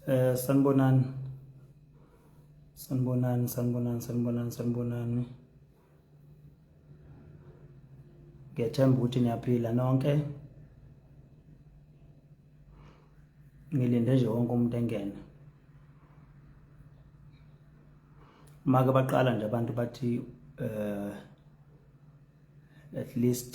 Eh sanibonani. Sanibonani, sanibonani, sanibonani, sanibonani. Ngiyethemba ukuthi niyaphila nonke. Ngilinde nje wonke umuntu engene. Maka baqala nje abantu bathi eh at least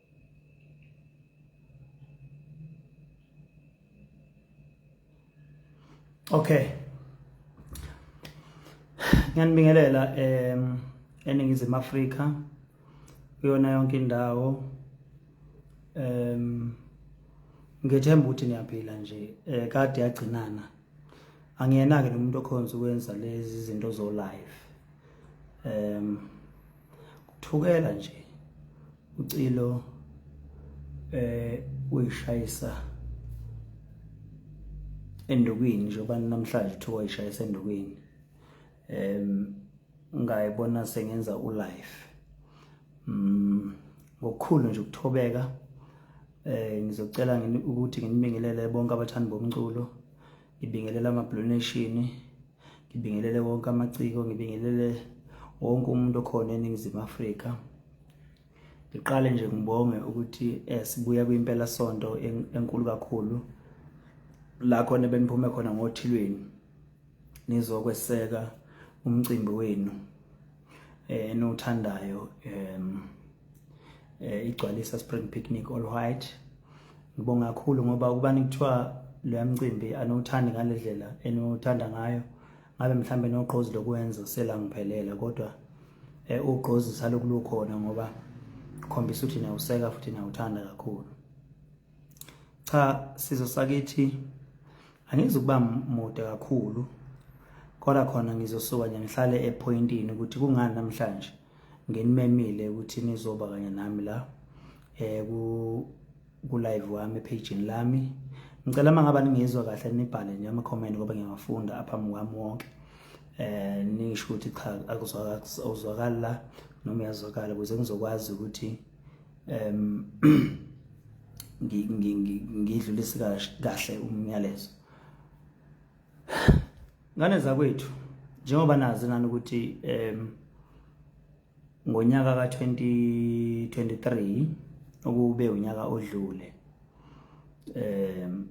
Okay. Ngiyanibingelela em eningizimu Afrika kuyona yonke indawo em ngethemba ukuthi niyaphila nje eh kade yagcinana angiyena ke nomuntu okhonza ukwenza lezi zinto zo live em kuthukela nje ucilo eh uyishayisa endukwini njengoba namhlanje kuthiwa uyishayisa endukwini em ngayibona sengenza u life mm ngokukhulu nje ukuthobeka eh ngizocela ukuthi nginibingelele bonke abathandi bomculo ngibingelela ama blue nation ngibingelele wonke amaciko ngibingelele wonke umuntu okhona eningizimu afrika ngiqale nje ngibonge ukuthi eh, sibuya kwimpela sonto enkulu kakhulu la khona beniphume khona ngothilweni nizokweseka umcimbi wenu eh, enothandayo um eh, igcwalisa spring picnic all white ngibonga kakhulu ngoba ukubani kuthiwa lo mcimbi anowuthandi ngale ndlela enowuthanda ngayo ngabe mhlawumbe nogqozi lokwenza selangiphelela kodwa um ugqozi salokulukhona ngoba khombisa ukuthi nawuseka futhi nawuthanda kakhulu cha sizo sakithi angizukuba mude kakhulu kodwa khona ngizosuka nje ngihlale epointini ukuthi kungani namhlanje nginimemile ukuthi nizoba kanye nami la eh ku ku live wami page lami ngicela mangaba ningizwa kahle nibhale nje ama comment ngoba ngiyafunda apha mwami wonke eh nisho ukuthi cha akuzwakala noma yazwakala ukuze ngizokwazi ukuthi um ngidlulise kahle umyalezo ngane zakwethu njengoba nazi nani ukuthi um ngonyaka ka-2023 okube unyaka odlule um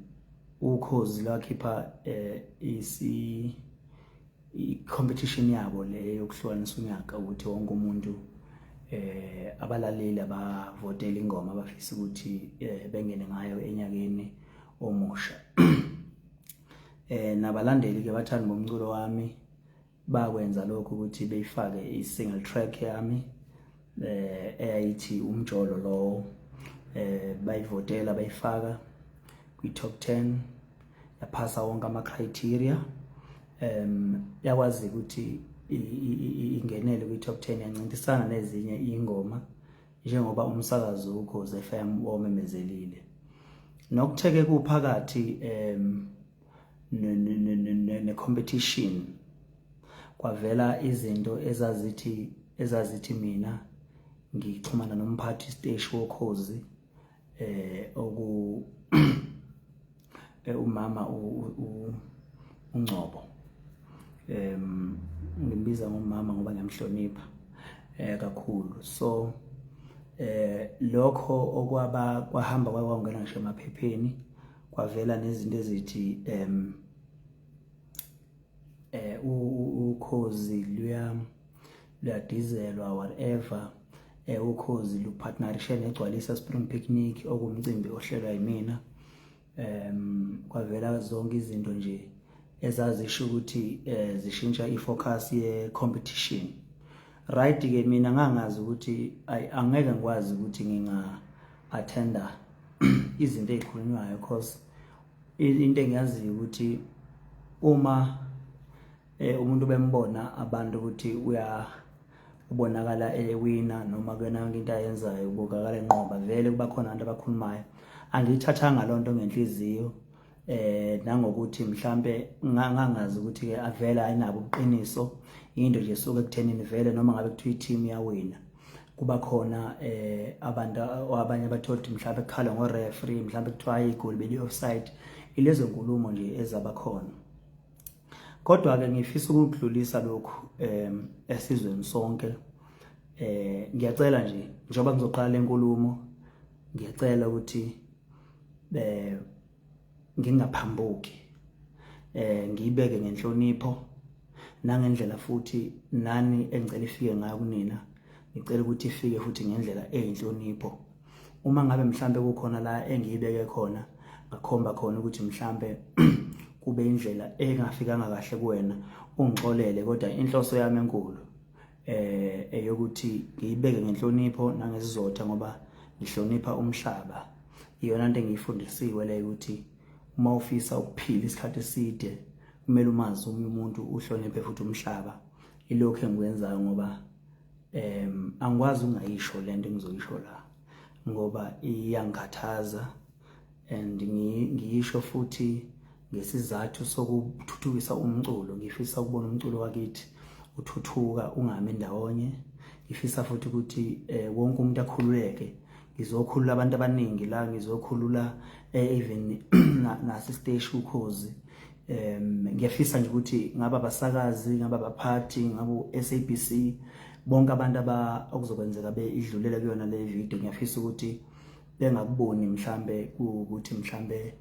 ukhozi lwakhipha um isi i-competition yabo le yokuhlukanisa unyaka ukuthi wonke umuntu eh abalaleli abavotela ingoma abafisa ukuthi eh, bengene ngayo enyakeni omusha eh nabalandeli ke bathanda bomculo wami bakwenza lokho ukuthi beyifake i-single track yami eh eyayithi umjolo lowo eh bayivotela bayifaka kwi top 10 yaphasa wonke ama criteria em yakwazi ukuthi ingenele kwi top 10 yancintisana nezinye ingoma njengoba umsakazi ukhoze FM womemezelile nokutheke kuphakathi em ne competition kwavela izinto ezazithi ezazithi mina ngixhumana nomphathi siteshi wokhozi eh oku eh, umama uNgcobo em ngimbiza ngomama ngoba ngiyamhlonipha eh kakhulu so eh lokho okwaba kwahamba kwawangena ngisho emaphepheni kwavela nezinto ezithi em eh ukhozi luya luyadizelwa whatever eh ukhozi lupartnerishe negcwalisa spring picnic okumcimbi ohlelwa yimina em kwavela zonke izinto nje ezazisho ukuthi eh, zishintsha ifocus ye competition right ke mina ngangazi ukuthi angeke ngikwazi ukuthi nginga attender izinto ezikhulunywayo because into engiyaziyo ukuthi uma eh, umuntu bembona abantu ukuthi uya ubonakala ewina noma kuyona yonke into ayenzayo ubukakala enqoba vele kuba khona abantu abakhulumayo angiyithathanga loo nto ngenhliziyo eh nangokuthi mhlambe ngangazi ukuthi ke avela ayinabo ubuqiniso into nje suke ekuthenini vele noma ngabe kuthiwa i-team yawina kuba khona eh abantu abanye abathola ukuthi mhlawumbe kukhala ngo-referee mhlawumbe kuthiwa igoli beli-offside ilezo nkulumo nje ezaba khona kodwa-ke ngifisa ukudlulisa lokhu um esizweni sonke eh ngiyacela nje njengoba ngizoqala lenkulumo ngiyacela ukuthi eh ngingaphambuki eh ngiyibeke ngenhlonipho nangendlela futhi nani engicela ifike ngayo kunina ngicela ukuthi ifike futhi ngendlela eyinhlonipho uma ngabe mhlambe kukhona la engiyibeke khona ngakhomba khona ukuthi mhlambe kube indlela engafikanga kahle kuwena ungixolele kodwa inhloso yami enkulu eh eyokuthi ngiyibeke ngenhlonipho nangesizotha ngoba ngihlonipha umhlaba iyona into engiyifundisiwe le ukuthi uma ufisa ukuphila isikhathi eside kumele umazi omunye umuntu uhloniphe futhi umhlaba ilokho engikwenzayo ngoba em angikwazi ungayisho lento engizoyisho la ngoba iyangikhathaza and ngiyisho futhi ngesizathu sokuthuthukisa umculo ngifisa ukubona umculo wakithi uthuthuka ungami ndawonye ngifisa futhi ukuthi eh, wonke umuntu akhululeke ngizokhulula abantu abaningi la ngizokhulula eh, even nasesteshi ukhozi um ngiyafisa nje ukuthi ngaba abasakazi ngaba abaphathi ngabo SABC bonke abantu aba okuzokwenzeka be idlulela kuyona le video ngiyafisa ukuthi bengakuboni mhlambe ukuthi mhlambe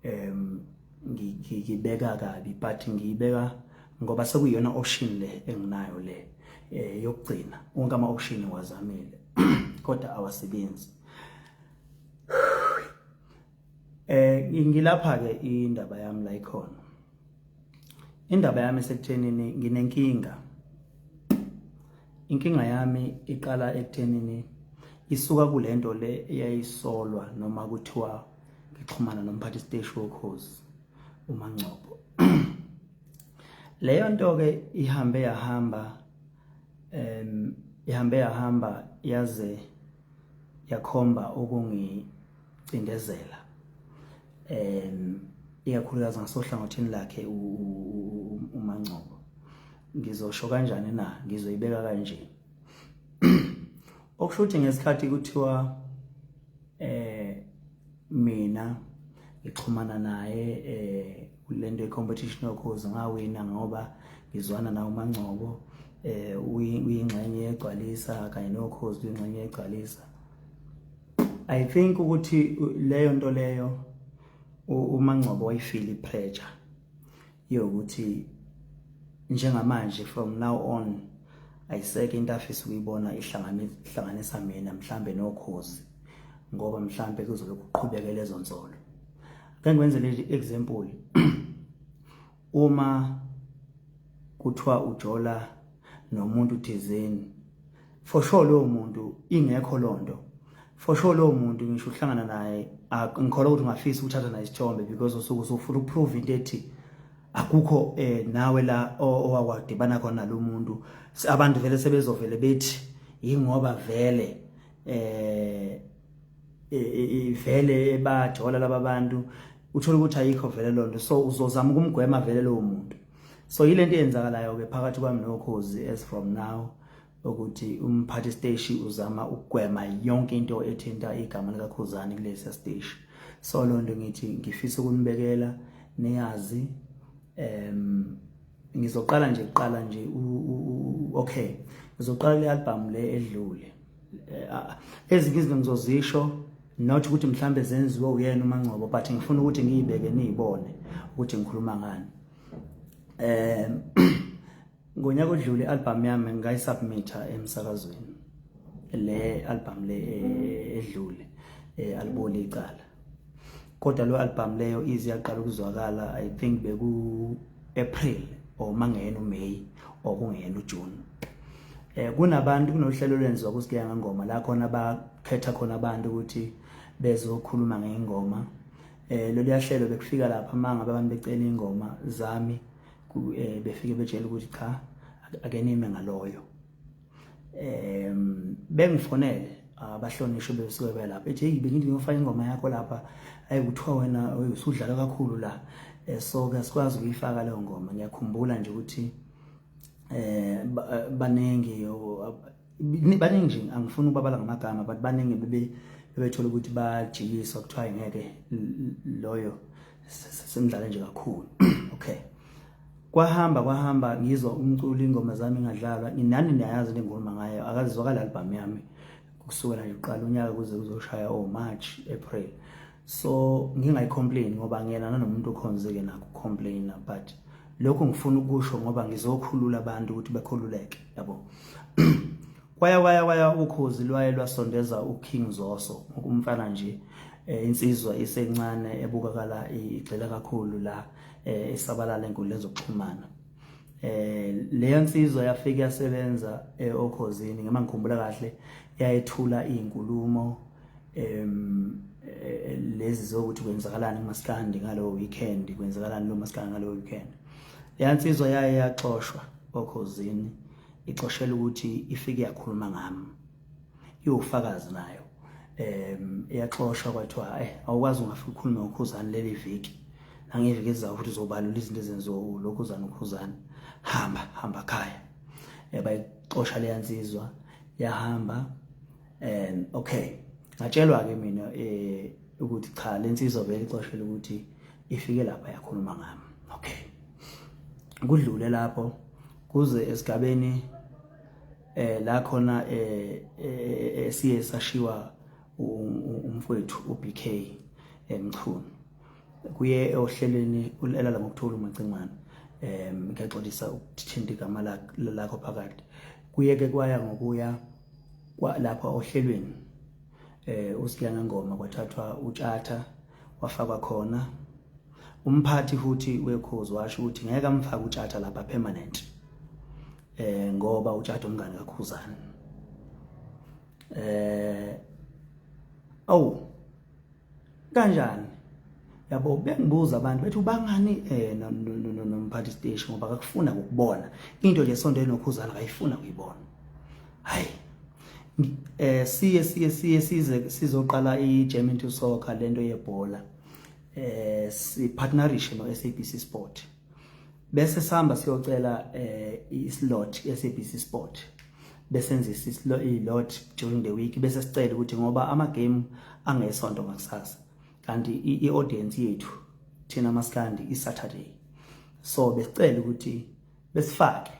em ngibeka kabi but ngiyibeka ngoba sekuyona option le enginayo le eh yokugcina wonke ama option wazamile kodwa awasebenzi eh ngilapha ke indaba yami la ikhona Indaba yami sekuthenini nginenkinga. Inkinga yami iqala ekuthenini isuka kulento le eyayisolwa noma kuthiwa ngixhumana nomphathi siteshi wokhozi uMangcobo. Leyo nto ke ihambe yahamba em ihambe yahamba yaze yakhomba ukungicindezela um ikakhulukazi ngasohlangothini lakhe uMangcobo ngizosho kanjani na ngizoyibeka kanje okusho ukuthi ngesikhathi kuthiwa eh mina ngixhumana naye eh kulento competition yokhozi ngawina ngoba ngizwana nawo mangcobo eh uyingxenye yegcwalisa kanye nokhozi uyingxenye yegcwalisa i think ukuthi leyo nto leyo umangcobo wayifili pressure yokuthi njengamanje from now on ayiseke into afisa ukuyibona ihlanganisa mina mhlambe nokhozi ngoba mhlambe kuzobe kuqhubeke lezo nsolo ke ngikwenze le example uma kuthiwa ujola nomuntu thizeni for sure lowo muntu ingekho lonto for sure lowo muntu ngisho uhlangana naye ngikholwa ukuthi ungafisa ukuthatha naye isithombe because usuke usufuna ukuprove into ethi akukho eh nawe la owawadibana khona lo muntu abantu vele sebezovele bethi yingoba vele eh ivele e, e, ebajola laba bantu uthola ukuthi ayikho vele lonto so uzozama ukumgwema vele lowo muntu so yile nto eyenzakalayo-ke phakathi kwami nokhozi as from now ukuthi umphathi steshi uzama ukugwema yonke into ethinta igama likakhuzane kulesi steshi so loo nto ngithi ngifisa ukunibekela niyazi um ngizoqala nje kuqala nje okay ngizoqala le album le edlule eh, ezinye izinto ngizozisho not ukuthi mhlambe zenziwe uyena uMangcobo but ngifuna ukuthi ngiyibeke niyibone ukuthi ngikhuluma ngani um ngonyaka odlule i-albhamu yami ngayisubmitha emsakazweni le albhamu le eh, edlule eh, aliboli icala kodwa lo albhamu leyo izi yaqala ukuzwakala i think beku-april or mangeyena umeyi or kungeyena ujuni eh kunabantu kunohlelo lwenziwa kusigeya ngengoma la khona bakhetha khona abantu ukuthi bezokhuluma ngengoma eh lolu yahlelo bekufika lapha manga abantu becela ingoma zami eh, befike betshela ukuthi cha akenime ngaloyo em bengifonele abahlonishwe besuke belapha ethi hey bengithi ngiyofaka ingoma yakho lapha ayi kuthiwa wena usudlala kakhulu la eh, so ke sikwazi ukuyifaka leyo ngoma ngiyakhumbula nje ukuthi eh baningi baningi nje angifuni ukubabala ngamagama but baningi bebe bebethola ukuthi bajikiswa kuthiwa ngeke loyo semdlale nje kakhulu okay kwahamba kwahamba ngizwa umculo ingoma zami ngadlalwa nginani niyayazi le ngoma ngayo akazizwakala album yami kusukela nje uqala unyaka kuze kuzoshaya o oh, March April so ngingayicomplain ngoba ngiyena nanomuntu okhonzeke nakho complaina but lokho ngifuna ukusho ngoba ngizokhulula abantu ukuthi bekhululeke yabo kwaya kwaya kwaya ukhozi lwaye lwasondeza uKing Zoso umfana nje eh, insizwa isencane ebukakala igxila kakhulu la eh, esabalala enkundleni zokuxhumana eh leyo nsizwa yafika yasebenza eh, okhozini ngema ngikhumbula kahle yayethula izinkulumo em eh, lezi zokuthi kwenzakalani kumaskandi ngalo weekend kwenzakalani lo maskandi ngalo weekend leya nsizwa yaye yaxoshwa okhozini ixoshela ukuthi ifike yakhuluma ngami iwufakazi nayo um iyaxoshwa kwathiwa eh awukwazi ungafika ukhulume ngokhuzane leli viki nangeviki ezizayo futhi uzobalula izinto ezenziwa ulokhuzane ukhuzane hamba hamba khaya um bayixosha leya nsizwa yahamba um okay ngatshelwa-ke mina um ukuthi cha le nsizwa vele ixoshele ukuthi ifike lapha yakhuluma ngami okay kudlule lapho kuze esigabeni eh la khona eh, eh, eh siye sashiwa umfowethu uBK emchunu kuye ohlelweni ulala ngokuthola umacingwane em ngiyaxolisa ukuthinta igama lakho phakathi kuye ke kwaya ngokuya lapha ohlelweni eh uSiyana Ngoma kwathathwa utshatha wafakwa khona umphathi futhi wekhozi washo ukuthi ngeke amfake utshatha lapha permanent eh ngoba utshatha umngane kakhuzana eh awu kanjani yabo bengibuza abantu bethi ubangani eh nomphathi station ngoba akakufuna ukubona into nje sonto enokhuzana akayifuna kuyibona hayi eh siye siye siye size sizoqala iGerman to soccer lento yebhola eh si partnerish no SABC Sport bese sihamba siyocela eh islot SABC Sport besenzisa islo ilot during the week bese sicela ukuthi ngoba ama game angesonto ngakusasa kanti i audience yethu thina maskandi i Saturday so besicela ukuthi besifake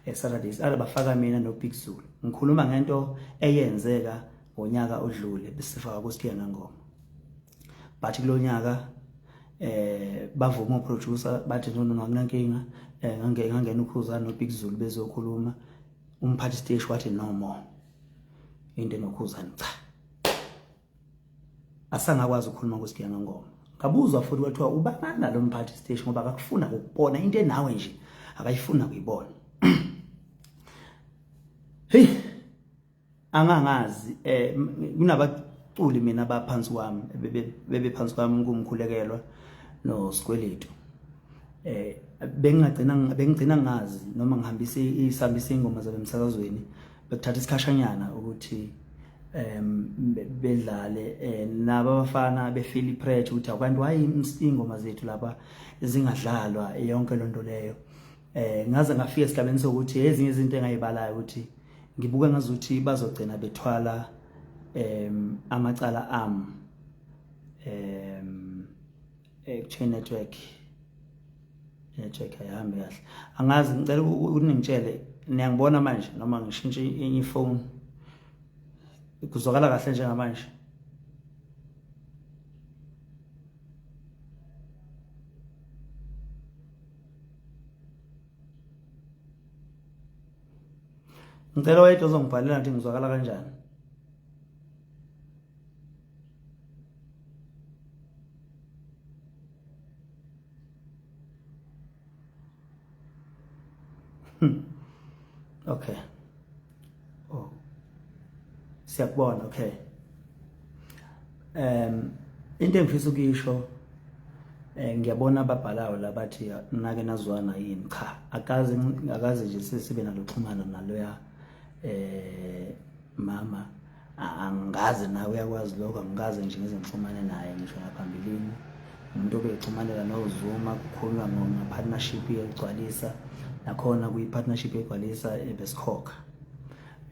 eSaturday siqala bafaka mina noBig Zulu ngikhuluma ngento eyenzeka ngonyaka odlule besifaka kuSiphika ngengoma but kulonyaka eh bavuma uproducer bathi no no akunankinga eh ngange ngangena ukhuza noBig Zulu bezokhuluma umphathi stage wathi no more into enokhuzani cha asangakwazi ukukhuluma kusigiya ngengoma ngabuzwa futhi kwathiwa ubangani nalo mphathi siteshi ngoba akakufuna ukubona into enawe nje akayifuna kuyibona hey angangazi eh kunabaculi mina abaphansi kwami bebe phansi kwami kumkhulekelwa no sikweletu eh bengagcina bengigcina ngazi noma ngihambise isambise ingoma zabe emsakazweni bekuthatha isikhashanyana ukuthi um bedlale eh, naba abafana befeel ipressure ukuthi abantu why ingoma zethu laba zingadlalwa yonke lonto leyo eh ngaze ngafika esigabeni sokuthi ezinye izinto engayibalayo ukuthi ngibuka ngazuthi bazogcina bethwala em amacala am em echain network network ayihambi kahle angazi ngicela uningitshele niyangibona manje noma ngishintshe enye ifoni kuzwakala kahle njengamanje ngicela wayedwa ozongibhalela ngithi ngizwakala kanjani Hmm. Okay. Oh. Siyakubona, okay. Um into engifisa ukuyisho eh ngiyabona ababhalayo labathi nake nazwana yini cha akazi akazi nje sesibe naloxhumana naloya eh mama angikaze nawe uyakwazi lokho angikaze nje ngize ngixhumane naye ngisho ngaphambilini umuntu obexhumanela nozuma kukhulunywa ngepartnership yokugcwalisa nakhona kwi-partnership yokugcwalisa ebesikhokha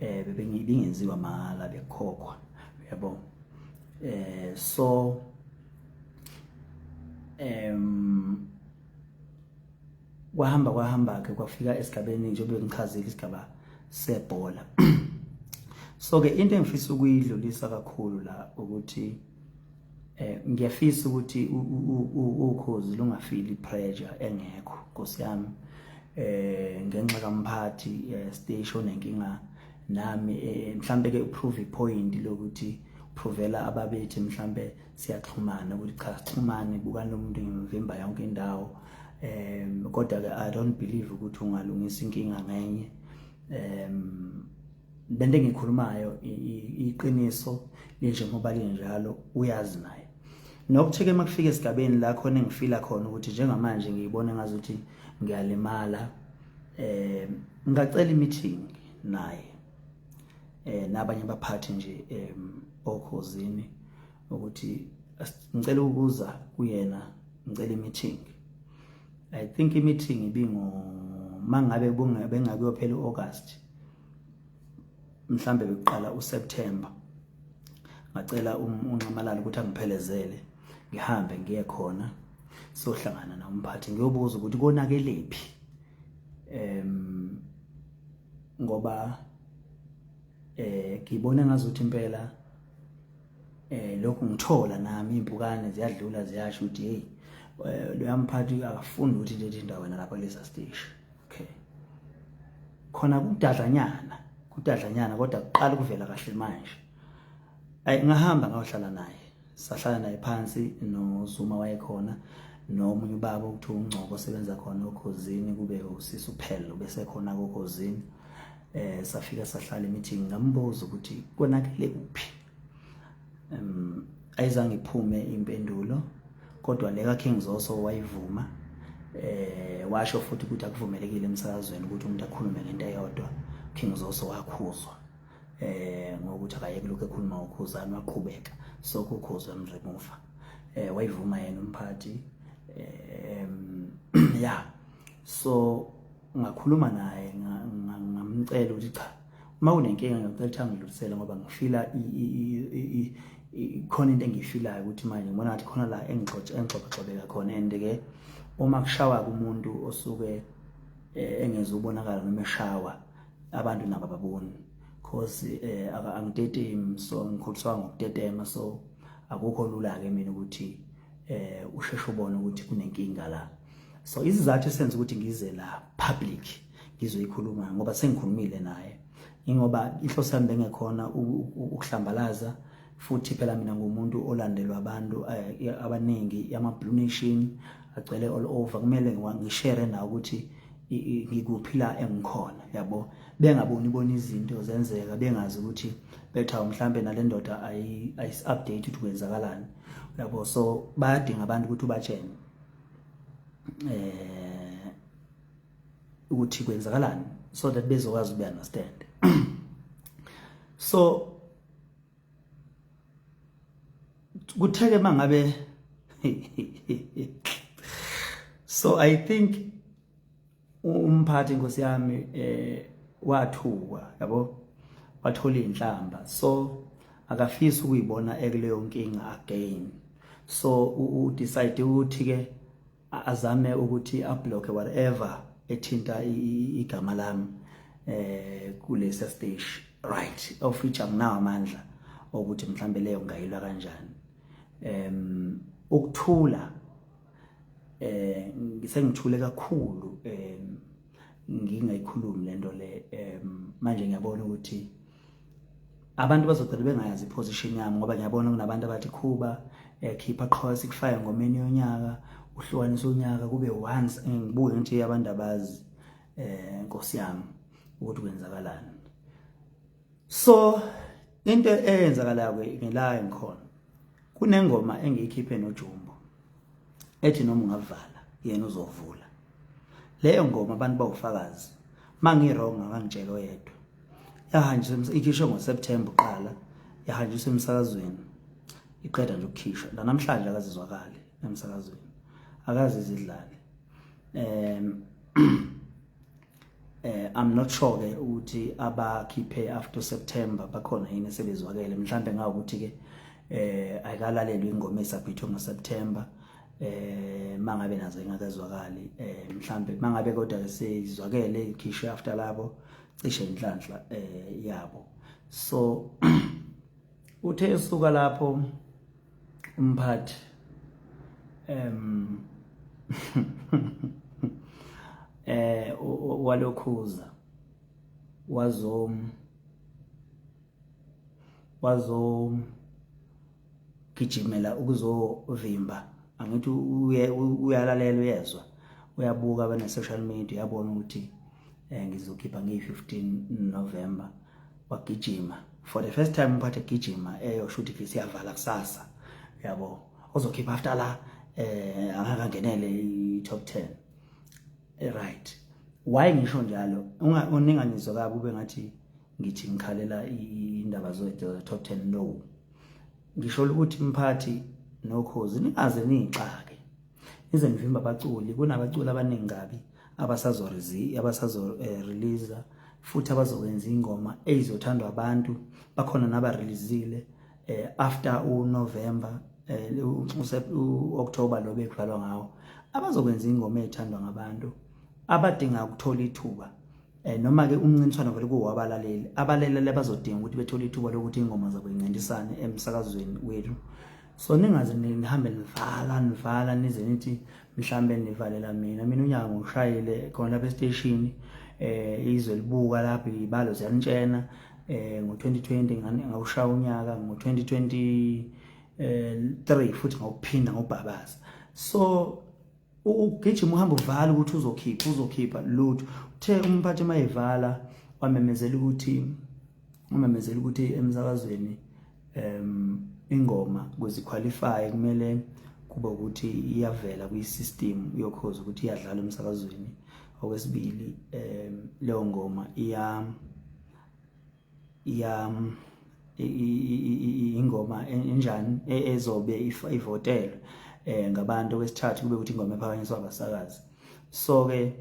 eh, um eh, bingenziwa mahhala bekukhokhwa yabo um eh, so um kwahamba kwahamba-ke kwafika esigabeni njengoba ngichazile isigaba sebhola so-ke into engifisa ukuyidlulisa kakhulu la ukuthi eh ngiyafisa ukuthi ukhozi lungafili pressure engekho Nkosi yami eh ngenxa kamphathi eh, station nenkinga nami eh, mhlambe ke uprove point lokuthi provela ababethi mhlambe siyaxhumana ukuthi cha sixhumane bukani lomuntu ngimvimba yonke indawo um kodwa-ke i don't believe ukuthi ungalungisa inkinga ngenye um lento engikhulumayo iqiniso linjengoba linjalo uyazi naye nokutheke uma kufika esigabeni la khona engifila khona ukuthi njengamanje ngiyibona ngazuthi ngiyalimala um ngingacela i-meeting naye eh nabanye abaphathi nje em okhozini ukuthi ngicela ukuza kuyena ngicela i-meeting i think i-meeting ibingo mangabe bengakuyophela u-august mhlambe bekuqala uSeptember ngacela um-, unxamalala ukuthi angiphelezele ngihambe ngiye khona sohlangana nomphathi ngiyobuza ukuthi konakelephi em ngoba eh ngibona ngazuthi impela eh lokhu ngithola nami impukane ziyadlula ziyasho ukuthi hey eh, loyamphathi akafundi ukuthi lezi ndawo wena lapha kulesa stage okay khona kudadlanyana kudadlanyana kodwa kuqala ukuvela kahle manje ay ngahamba ngayohlala naye sahlala naye phansi noZuma wayekhona nomunye ubaba okuthiwa uNgcobo osebenza khona okhozini kube usisi uphelo bese khona kokhozini eh safika sahlala emeeting ngambuza ukuthi konakele kuphi um ayizange iphume impendulo kodwa le kaKing Zoso wayivuma eh washo futhi ukuthi akuvumelekile emsakazweni ukuthi umuntu akhulume ngento eyodwa King Zoso wakhuzwa eh ngokuthi akayeke lokho ekhuluma ukhuzani waqhubeka sokukhuzwa emremuva eh wayivuma yena umphathi eh ya so ngakhuluma naye ngamcela ukuthi cha uma unenkinga ngicela ukuthi angidlulisele ngoba ngifila khona into engiyifilayo ukuthi manje ngibona ngathi khona la engixoxaxobeka khona and ke uma kushawa kumuntu osuke eh, engezubonakala noma eshawa abantu nabo baboni cause eh angitetemi so ngikholiswa ngokutetema so akukho lula ke mina ukuthi eh usheshe ubone ukuthi kunenkinga la so izizathu esenza ukuthi ngize la public ngizoyikhuluma ngoba sengikhulumile naye ingoba inhloso yami bengekhona ukuhlambalaza futhi phela mina ngumuntu olandelwa abantu eh, abaningi ama blue nation agcwele all over kumele ngishare na ukuthi ngikuphila engikhona yabo bengaboni bona izinto zenzeka bengazi ukuthi betha mhlambe nalendoda ayi ayis update ukuthi kwenzakalani yabo so bayadinga abantu ukuthi ubatshene eh ukuthi kwenzakalani so that bezokwazi uku understand so kutheke mangabe so i think umphathi inkosi yami eh wathukwa yabo wathola inhlamba so akafisi ukuyibona ekuleyo nkinga again so u decide ukuthi ke azame ukuthi ablock whatever ethinta igama lami eh kulesa stage right ofricha nginawo amandla okuthi mhlambe leyo ngayilwa kanjani em ukuthula eh ngisengithule kakhulu em ngingayikhulumi lento le em manje ngiyabona ukuthi abantu bazogcina bengayazi iposition yami ngoba ngiyabona kunabantu abathi khuba eh, khipha qho sikufaya ngomeni yonyaka uhlukanisa unyaka kube once ngibuke nje abantu abazi eh nkosi yami ukuthi kwenzakalani so into eyenzakalayo ke ngelayo ngikhona kunengoma engiyikhiphe nojumbo ethi noma ungavala yena uzovula leyo ngoma abantu bawufakazi mangi-wrong akangitshela oyedwa yahanjiswa ikhishwe ngoseptemba uqala yahanjiswa emsakazweni iqeda nje ukukhishwa nanamhlanje akazizwakali emsakazweni akazi izidlali um eh i'm not sure ke ukuthi abakhiphe after September bakhona yini sebezwakele mhlambe ngawukuthi ke eh ayikalalelwe ingoma esabhithwe ngo September eh mangabe nazo ingakazwakali eh mhlambe mangabe kodwa ke seyizwakele ikhishwe after labo cishe inhlanhla eh yabo so uthe esuka lapho umphathi um eh walokhuza wazo wazo gijimela ukuzovimba angithi uyalalela uyezwa uyabuka bane social media yabona ukuthi eh, ngizokhipha ngiyi 15 November wagijima for the first time umphathe gijima eyo eh, shuthi ke siyavala kusasa yabo ozokhipha after la eh angakangenele i top 10 eh, right why ngisho njalo uninganizwe kabi ube ngathi ngithi ngikhalela indaba zo top 10 no ngisho ukuthi mphathi nokhozi ningaze nixake Ize ngivimba abaculi kunabaculi abaningi kabi abasazo abasazo eh, release futhi abazokwenza ingoma eyizothandwa abantu bakhona naba releasile eh, after u November eh, u October lo bekudlalwa ngawo abazokwenza ingoma ethandwa ngabantu abadinga ukuthola ithuba eh noma ke umncintiswano vele kuwabalaleli abalaleli bazodinga ukuthi bethole ithuba lokuthi ingoma zabo incintisane emsakazweni wethu so ningaze nihambe nivala nivala nize nithi mhlambe nivalela mina mina unyaka ngoshayile khona lapha esiteshini eh izwe libuka lapho ibalo ziyanitshena eh ngo-2020 ngawushaya unyaka ngo-2023 eh, futhi ngawuphinda ngobhabaza so ugijima uhamba uvala ukuthi uzokhipha uzokhipha lutho uthe umphathi mayevala wamemezela ukuthi umemezela ukuthi emsakazweni um ingoma kuziqualify kumele kuba ukuthi iyavela kwi-system yokhozi ukuthi iyadlala emsakazweni okwesibili um leyo ngoma iya ya ingoma enjani e-, ezobe ivotelwe eh ngabantu okwesithathu kube ukuthi ingoma ephakanyiswa abasakazi so ke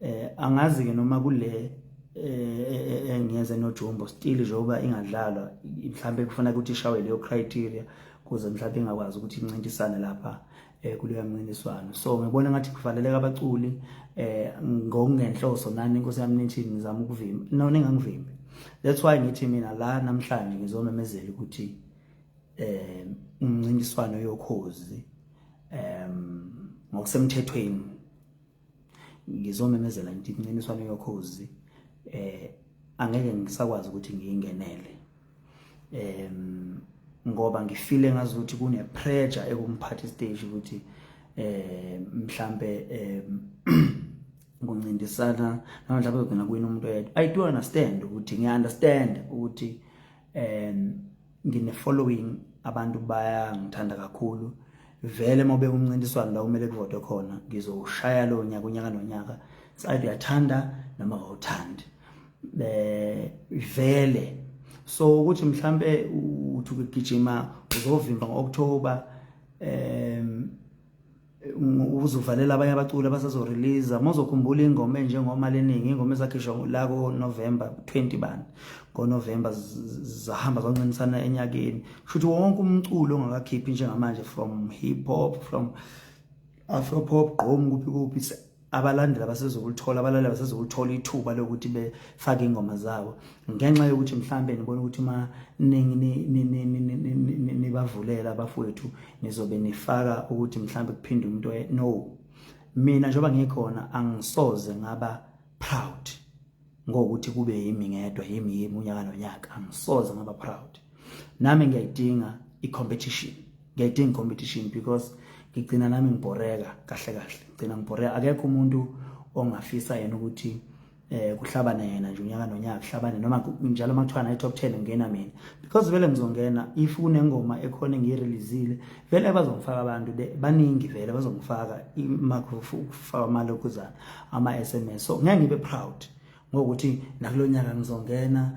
eh angazi ke noma kule eh engiyeze eh, nojumbo still njengoba ingadlalwa mhlawumbe kufuna ukuthi ishawe leyo criteria kuze mhlawumbe ingakwazi ukuthi incintisane lapha eh kuleya mncintiswano so ngibona ngathi kuvaleleka abaculi eh ngokungenhloso nani inkosi yami nithi ngizama ukuvimba no ningangivimbi that's why ngithi mina la namhlanje ngizomemezela ukuthi eh umncintiswano yokhozi em ngokusemthethweni ngizomemezela ngithi incintiswano yokhozi eh angeke ngisakwazi ukuthi ngiyingenele em ngoba ngifile ngazi ukuthi kune pressure ekumphathi stage ukuthi eh mhlambe eh kuncintisana namanje lapho kugcina kuyina umuntu oyedwa i do understand ukuthi ngiya understand ukuthi um ngine following abantu bayangithanda kakhulu vele uma ubeka umncintiswano la kumele kuvotwe khona ngizowushaya lo nyaka unyaka nonyaka sayithi uyathanda noma awuthandi eh vele so ukuthi mhlambe uthi ukugijima uzovimba ngoOctober um uzovalela abanye abaculi abasazorelease uma uzokhumbula ingoma enjengomali eningi ingoma ezakhishwa la konovemba 20 bani ngonovemba zahamba zoncintisana enyakeni kushuthi wonke umculo ongakakhiphi njengamanje from hip hop from afro pop gqom kuphi kuphi abalandeli abasezokulithola abalaleli abasezokulithola ithuba lokuthi befake ingoma zabo ngenxa yokuthi mhlambe nibona ukuthi uma nibavulela abafowethu nizobe nifaka ukuthi mhlambe kuphinde umuntu no mina njengoba ngikhona angisoze ngaba proud ngokuthi kube yimi ngedwa yimi yimi unyaka nonyaka angisoze ngaba proud nami ngiyayidinga i-competition ngiyayidinga i-competition because ngigcina nami ngibhoreka kahle kahle ngigcina ngibhoreka akekho umuntu ongafisa yena ukuthi eh kuhlabana yena nje unyaka nonyaka kuhlabane noma njalo makuthiwa nayi top 10 ngena mina because vele ngizongena if kunengoma ekhona ngiyireleasile vele bazongifaka abantu baningi vele bazongifaka imakufaka imali okuzana ama SMS so ngeke ngibe proud ngokuthi nakulonyaka ngizongena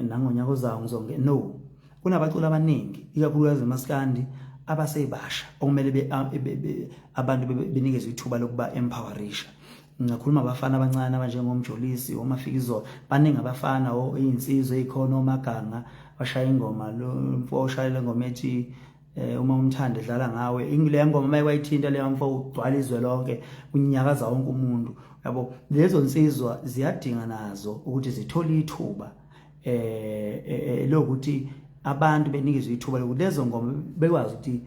nangonyaka ozayo ngizongena no kunabaculi abaningi ikakhulukazi emaskandi abasebasha okumele abantu benikezwe ithuba lokuba empowerisha ngingakhuluma abafana abancane abanjengomjolisi omafikizolo baningi abafana oyinsizwa eyikhona omaganga bashaya ingoma lo mfo oshayela ingoma ethi eh uma umthanda edlala ngawe ingile ngoma maye kwayithinta leyo mfo ugcwala izwe lonke kunyakaza wonke umuntu yabo lezo nsizwa ziyadinga nazo ukuthi zithole ithuba eh, eh, eh lokuthi abantu benikizwe ithuba lokuthi lezo ngoma bekwazi ukuthi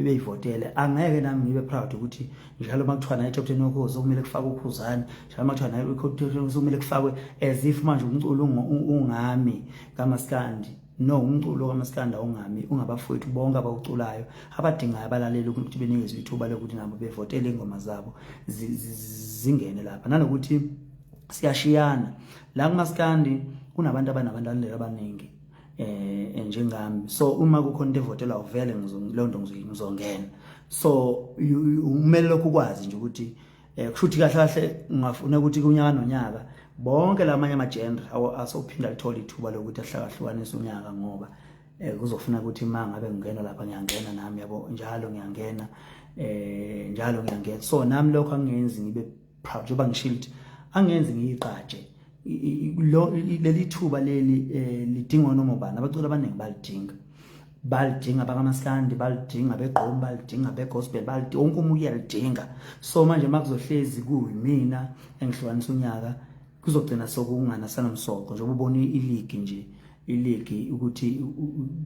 beyivotele angeke nami ngibe proud ukuthi njalo uma kuthiwa naye top ten wokhozi okumele kufakwe ukhuzane njalo uma kuthiwa naye top ten okumele kufakwe as if manje umculo ungami kamaskandi no umculo kamaskanda ungami ungabafowethu bonke abawuculayo abadingayo abalaleli ukuthi benikezwe ithuba lokuthi nabo bevotele ingoma zabo zingene lapha nanokuthi siyashiyana la kumaskandi kunabantu abanabantu alandela abaningi eh, eh njengami so uma kukhona into evotela uvele ngizonto ngizongena so umele lokhu kwazi nje ukuthi eh kushuthi kahle kahle ngingafuna ukuthi kunyaka nonyaka bonke lamanye ama genre asophinda lithola ithuba lokuthi ahlakahlukanise unyaka ngoba eh kuzofuna ukuthi uma ngabe ngingena lapha ngiyangena nami yabo njalo ngiyangena eh njalo ngiyangena so nami lokho angenzi ngibe proud njengoba ngishilo ukuthi angenzi ngiyiqatshe leli thuba leli eh, lidingwa noma ubani abaculi abaningi balidinga balidinga bakamaskandi balidinga begqomi balidinga begospel balidinga wonke umuntu uyalidinga so manje makuzohlezi kuyimina engihlukanisa unyaka kuzogcina sokungana sanomsoko njengoba ubona iligi nje iligi ukuthi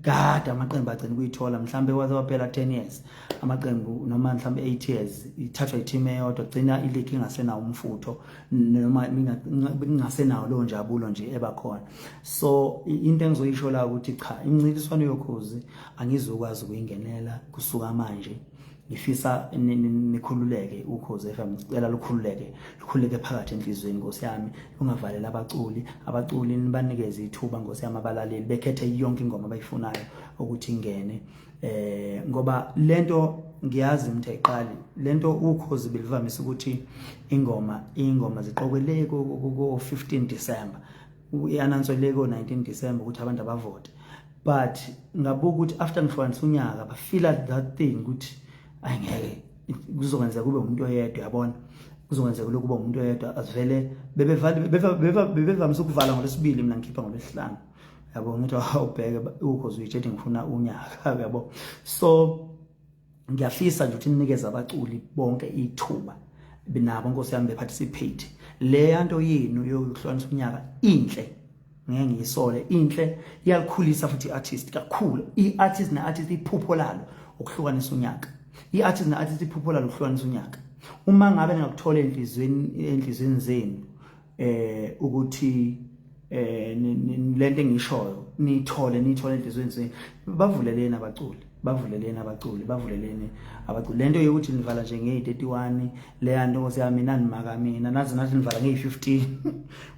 kade amaqembu agcina ukuyithola mhlawumbe waze waphela 10 years amaqembu noma mhlawumbe 8 years ithathwa i-team eyodwa gcina iligi ingasenawo umfutho noma ingasenawo leyo njabulo nje ebakhona so into engizoyisho la ukuthi cha imncintiswano yokhozi angizokwazi ukuyingenela kusuka manje ngifisa nikhululeke ukhoze FM ngicela lukhululeke lukhululeke phakathi enhlizweni Nkosi yami ungavaleli abaculi abaculi nibanikeze ithuba Nkosi yami abalaleli bekhethe yonke ingoma abayifunayo ukuthi ingene eh ngoba lento ngiyazi umthe iqali lento ukhozi belivamise ukuthi ingoma ingoma ziqokeleke ko 15 December i-anansoleke o-19 December ukuthi abantu abavote but ngabuka ukuthi after ngihlukanisa unyaka bafila that thing ukuthi ayi ngeke kuzokwenzeka kube umuntu oyedwa yabona kuzokwenzeka lokhu kuba umuntu oyedwa asivele bebevamise ukuvala ngolwesibili mina ngikhipha ngolwesihlanu yabo ngithi awubheke ukhoze uyitshedi ngifuna unyaka yabo so ngiyafisa nje ukuthi ninikeze abaculi bonke ithuba binabo nkosi yami beparticipate leya nto yenu yokuhlukanisa unyaka inhle ngeke ngiyisole inhle iyalikhulisa futhi i-artist kakhulu i-artist ne-artist iphupho lalo ukuhlukanisa unyaka i-artist ne-artist iphupho lalo ukuhlukanisa unyaka uma ngabe ningakuthola enhliziyweni enhliziyweni zenu eh ukuthi eh lento engishoyo nithole nithole enhlizweni zenu bavuleleni abaculi bavuleleni abaculi bavuleleni abaculi lento yokuthi nivala nje ngeyi-31 leya nto nkosi yami nanimaka mina nazi nathi nivala ngeyi-15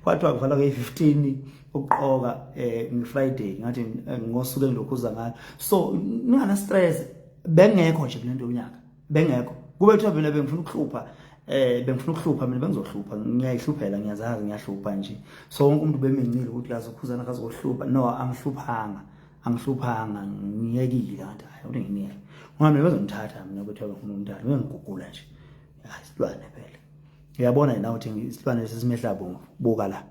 kwathiwa kuvala ngeyi-15 ukuqoka um ngifriday ngathi eh, ngosuku engilokhuza ngalo so ningana-stress bengekho nje kule nto yonyaka bengekho kube kuthiwa mina bengifuna ukuhlupha eh bengifuna ukuhlupha mina bengizohlupha ngiyayihluphela ngiyazazi ngiyahlupha nje so wonke umuntu bemincile ukuthi lazo khuzana kazohlupha no angihluphanga angihluphanga ngiyekile kanti hayi uthi ngiyeke ngoba mina bezongithatha mina ukuthi abafuna umntana bengigugula nje hayi silwane phela uyabona yena uthi isilwane sesimehla bongo buka la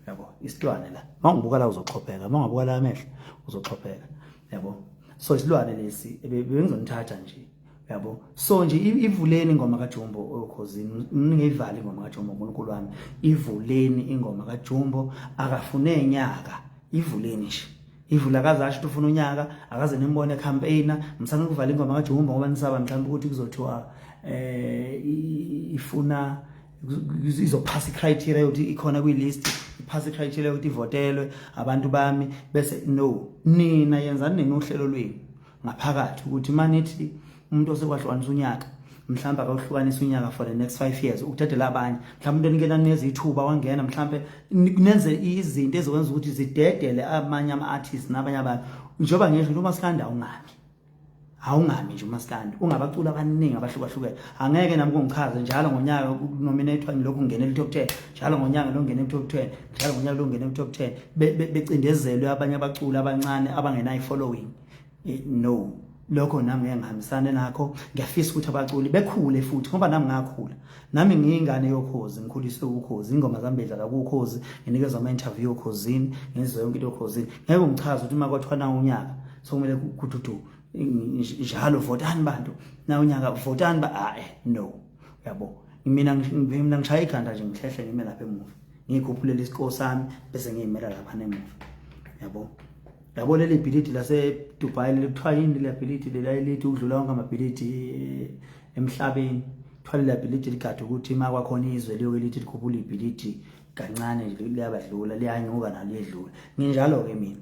yabo isilwane la mawungibuka la uzoxhopheka mawungabuka la amehlo uzoxhopheka yabo so isilwane lesi bengizonithatha nje yabo so nje ivuleni ingoma kaJumbo okhozini ningeyivali ingoma kaJumbo uNkulunkulu wami ivuleni ingoma kaJumbo akafune nyaka ivuleni nje ivula akazasho ukuthi ufuna unyaka akaze nimbone campaigner msana ukuvala ingoma kaJumbo ngoba nisaba mhlawumbe ukuthi kuzothiwa eh ifuna izophasa i-criteria yokuthi ikhona kwi-list iphasa i-criteria yokuthi ivotelwe abantu bami bese no nina yenzani nina uhlelo lwenu ngaphakathi ukuthi uma nithi umuntu osekwahlukanisa unyaka mhlawumbe akawuhlukanisa unyaka for the next five years ukuthathela abanye mhlawumbe umuntu onikela neza ithuba wangena mhlawumbe nenze izinto ezokwenza ukuthi zidedele amanye ama-artist nabanye abantu njengoba ngisho noma sikanda ungabi awungami nje umaskandi ungabaculi abaningi abahlukahlukene angeke nami kungichaze njalo ngonyaka kunominathwa ngilokhu ngingena ku-top ten njalo ngonyaka lo ngingena ku-top ten njalo ngonyaka lo ngingena ku-top ten becindezelwe abanye abaculi abancane abangenayo i-following no lokho nami ngeke ngihambisane nakho ngiyafisa ukuthi abaculi bekhule futhi ngoba nami ngakhula nami ngiyingane yokhozi ngikhuliswe ukhozi ingoma zami bedlala kukhozi nginikezwa ama-interview okhozini ngizwe yonke into okhozini ngeke ungichaze ukuthi uma kwathiwa na unyaka so kumele kuthuthu njalo votani bantu na unyaka votani ba ah, eh, no yabo mina mina ngishaya ikhanda nje ngihlehle ngime lapha emuva ngikhuphulele isikole sami bese ngiyimela lapha nemuva yabo yabo leli bhilidi lasedubai leli kuthiwa yini leli bhilidi lelithi ukudlula wonke amabhilidi eh, emhlabeni kuthiwa leli bhilidi ligade ukuthi uma kwakhona izwe liyoke lithi likhuphula ibhilidi kancane liyabadlula liyanyuka naliyedlula nginjalo-ke mina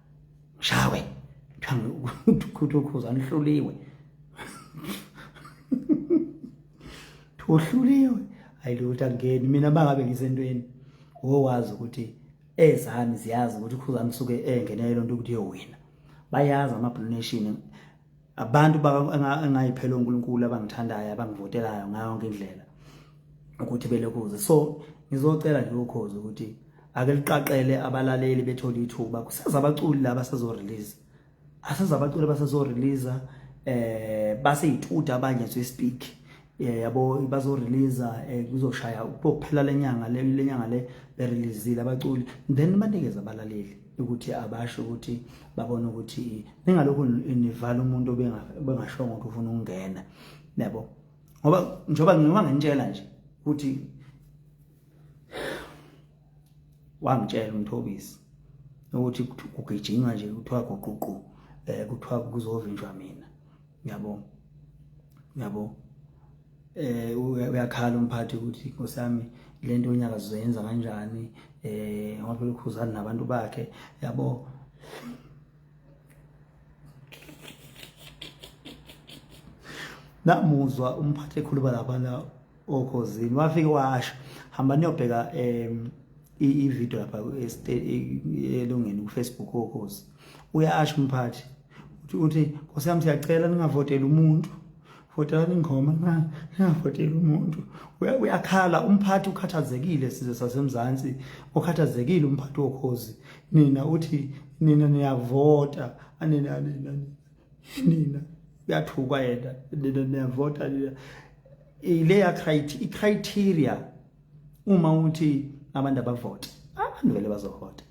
shawe thami ukhuthuza anihluliwe uhluliwe hayi lutho angeni mina bangabe ngisentweni wowazi ukuthi ezami ziyazi ukuthi ukhuzami suke engenele lonto ukuthi yowina bayazi ama-blue nation abantu engayiphela uNkulunkulu abangithandayo abangivotelayo ngayo yonke indlela ukuthi belokuze so ngizocela nje ukhozi ukuthi ake liqaqele abalaleli bethola ithuba kuseza abaculi laba sezo release aseza abaculi abasezo release eh base yituda abanye so speak eh, yabo bazo release eh, kuzoshaya ukuphela lenyanga lenyanga le berelease abaculi then banikeza abalaleli ukuthi abasho ukuthi babona ukuthi ningalokhu nivala umuntu obengashongo ukuthi ufuna ukungena yabo ngoba njengoba ngiba ngintshela nje ukuthi wangitshela umthobisi ukuthi kugijinywa nje kuthiwa guququ um eh, kuthiwa kuzovinjwa mina yabo yabo eh uyakhala umphathi ukuthi nkosami lento unyaka sizoyenza kanjani eh ngoba phela ukhuzana nabantu bakhe yabo namuzwa umphathi ekhuluma labana okhozini wafike washo hamba niyobheka em i-video lapha elungeni kufacebook okhozi uyasho umphathi uthi nkosi yami siyacela ningavoteli umuntu votelani ingoma ningavoteli umuntu uyakhala umphathi ukhathazekile sizwe sasemzansi ukhathazekile umphathi wokhozi nina uthi nina niyavota anina nina nina uyathukwa yena nina niyavota nina ileya criteria uma uthi abantu abavota abantu vele bazovota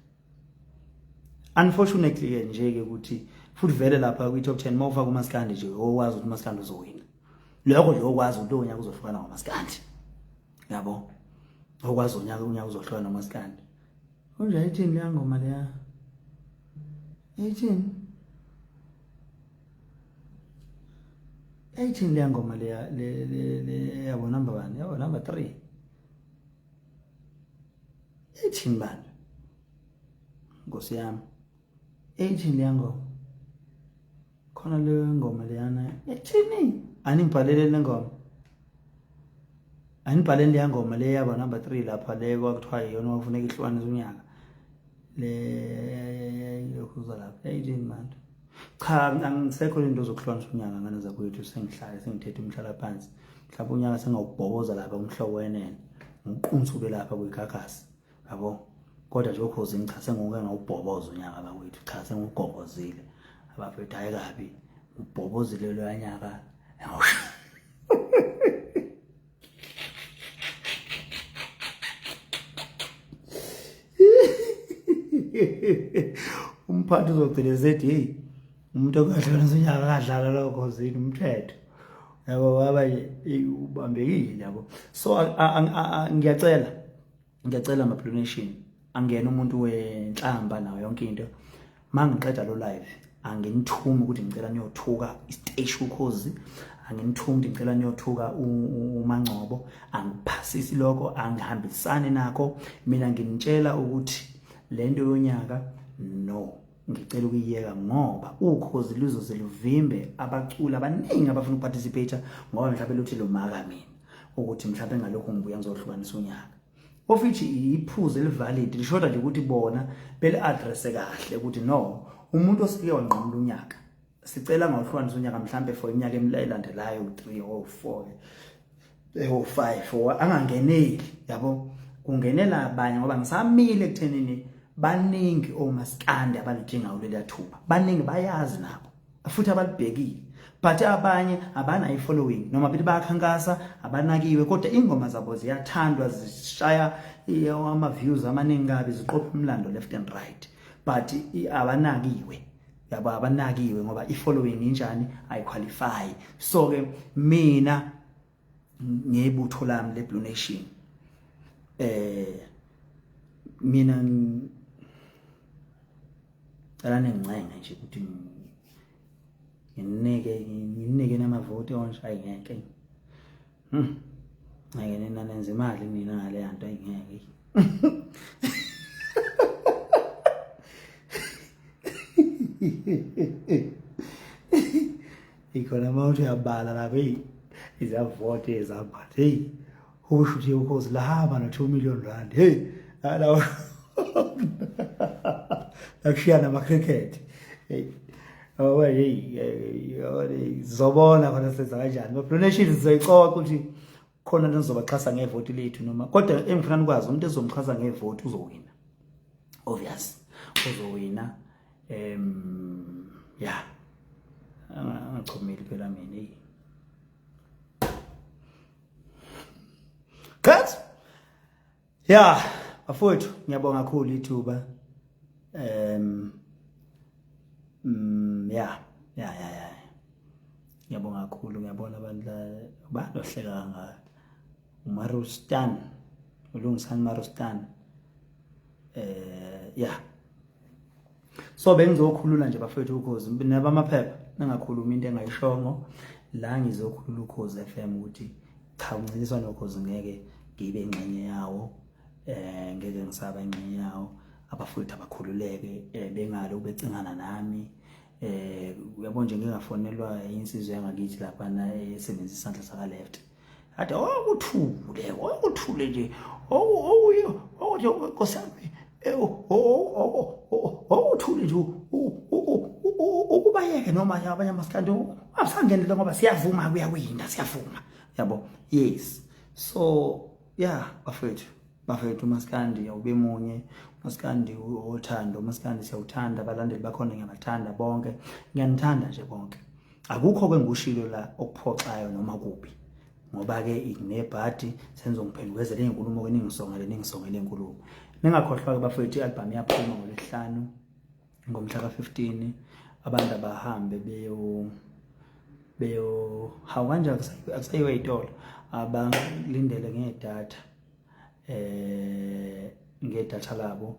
unfortunately ke nje ke ukuthi futhi vele lapha kwi top 10 mawufaka umaskandi nje owazi ukuthi umaskandi uzowina lokho nje okwazi ukuthi onyaka uzohlukana ngomaskandi yabo okwazi onyaka unyaka uzohlukana ngomaskandi kunje ayithini leya ngoma leya ayithini ayithini leya ngoma leya le le yabo number 1 yabo number 3 ethini bandla nkosi yami ethini leya ngoma khona leyo ngoma leyana ethini aningibhalele le ngoma anibhaleni leya ngoma le yaba number 3 lapha le kwakuthiwa yiyona wafuneka ihlukane zonyaka leyokuza lapha yayithini manje cha angisekho le nto zokuhlonisa unyaka ngane zakwethu sengihlale sengithethe umhlala phansi mhlawumbe unyaka sengawubhoboza lapha umhlobo wenene ngiqunsa ube lapha kwigagasi yabo kodwa nje ukhozi ngicha senguke ngawubhoboza unyaka bakwethu cha sengugobozile abafethu hayi kabi ubhobozile loyanyaka umphathi uzogcina esethi heyi umuntu okadlala unyaka akadlala lokho zini umthetho yabo baba ubambekile yabo so ngiyacela ngiyacela ama donation angena umuntu wenhlamba nayo yonke into mangiqeda lo live anginithumi ukuthi ngicela niyothuka isiteshi ukhozi anginithumi ukuthi ngicela niyothuka umangcobo angiphasisi lokho angihambisani nakho mina nginitshela ukuthi lento yonyaka no ngicela ukuyiyeka ngoba ukhozi luzoze luvimbe abaculi abaningi abafuna ukuparticipate ngoba mhlawumbe luthi lomaka mina ukuthi mhlawumbe ngalokho ngibuya ngizohlukanisa unyaka of which iphuze elivalid lishoda nje ukuthi bona beli address kahle ukuthi no umuntu osike wanqamula unyaka sicela ngawuhlwana sonyaka mhlambe for iminyaka emilandelayo 3 or 4 or 5 or angangeneli yabo kungenela abanye ngoba ngisamile ekuthenini baningi omaskandi abalidinga kuleli athuba baningi bayazi nabo futhi abalibhekile but abanye abanayo following noma bithi bayakhankasa abanakiwe kodwa ingoma zabo ziyathandwa zishaya ama views amaningi kabi ziqopha umlando left and right but abanakiwe yabo abanakiwe ngoba i-following injani ayiqualify so ke mina ngebutho lami le-blue nation eh mina cela ningincenge nje ukuthi nginike nginike namavoti onje ayingeke Hmm. Ngeke nina nenze imali mina ngale yanto ayingeke. Ikhona uma uthi uyabala lapho eyi izavote ezabhathi heyi usho ukuthi ukhozi lahamba no-two million rand heyi alawa lakushiyana ama-cricket heyi Oh, hey, hey, zobona khona senza kanjani. But donation sizoyixoxa ukuthi khona nizobaxhasa ngevoti lethu noma kodwa engifuna nikwazi umuntu ezomxhasa ngevoti uzowina. Obvious. Uzowina. Em yeah. Angachomeli phela mina. Hey. Cut. ya bafowethu ngiyabonga kakhulu ithuba um mm, ya ya ya ya ngiyabonga kakhulu ngiyabona abantu abantu ohleka kangaka umarustan ulungisani marustan eh ya so bengizokhulula nje bafethu ukhozi nabamaphepha ningakhulumi into engayishongo la ngizokhulula ukhozi FM ukuthi cha umncintiswano wokhozi ngeke ngibe ingxenye yawo eh ngeke ngisaba ingxenye yawo abafowethu abakhululeke eh, bengale ubecingana nami eh uyabo nje ngingafonelwa insizwe yangakithi lapha na esebenzisa isandla saka left Ade okuthule, okuthule nje. Oku okuyo, okuthi okosami. Ewu, okuthule nje ukubayeke noma abanye amasikandi asangenele ngoba siyavuma kuyawina siyavuma yabo yes so yeah bafethu bafethu umasikandi awube munye umasikandi othando umasikandi siyawuthanda abalandeli bakhona ngiyabathanda bonke ngiyanithanda nje bonke akukho ke ngushilo la okuphoxayo noma kubi ngoba ke nginebhadi sengizongiphendukezela inkulumo ke ningisongele ningisongele inkulumo ningakhohlwa ke bafethu ialbum yaphuma ngolesihlanu ngomhla ka-15 abantu abahambe beyo beyo hawu kanje akusayiwe itolo abalindele ngedatha eh ngedatha labo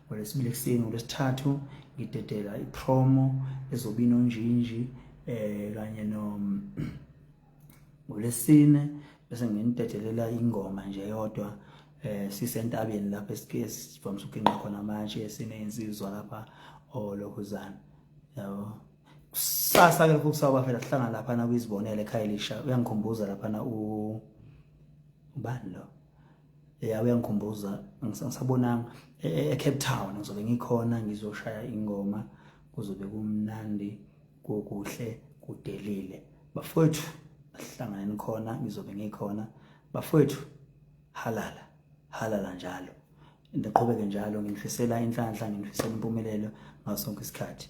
ngolwesibili ekuseni ngolwesithathu ngidedela ipromo ezobe inonjinji eh kanye no ngolesine bese nginidedelela ingoma nje yodwa eh sisentabeni lapha esike sivamise ukuqinqa khona amatshe esine insizwa lapha olokhuzana oh, yabo kusasa ke lokho kusawuba phela sihlangana lapha na kuyizibonela ekhaya elisha uyangikhumbuza lapha na u ubani lo ya uyangikhumbuza ngisabonanga e, e, eCape Town ngizobe ngikhona ngizoshaya ingoma kuzobe kumnandi kokuhle kudelile bafowethu asihlangane khona ngizobe ngikhona bafowethu halala halala njalo ndiqhubeke njalo nginifisela inhlanhla nginifisela impumelelo ngaso sonke isikhathi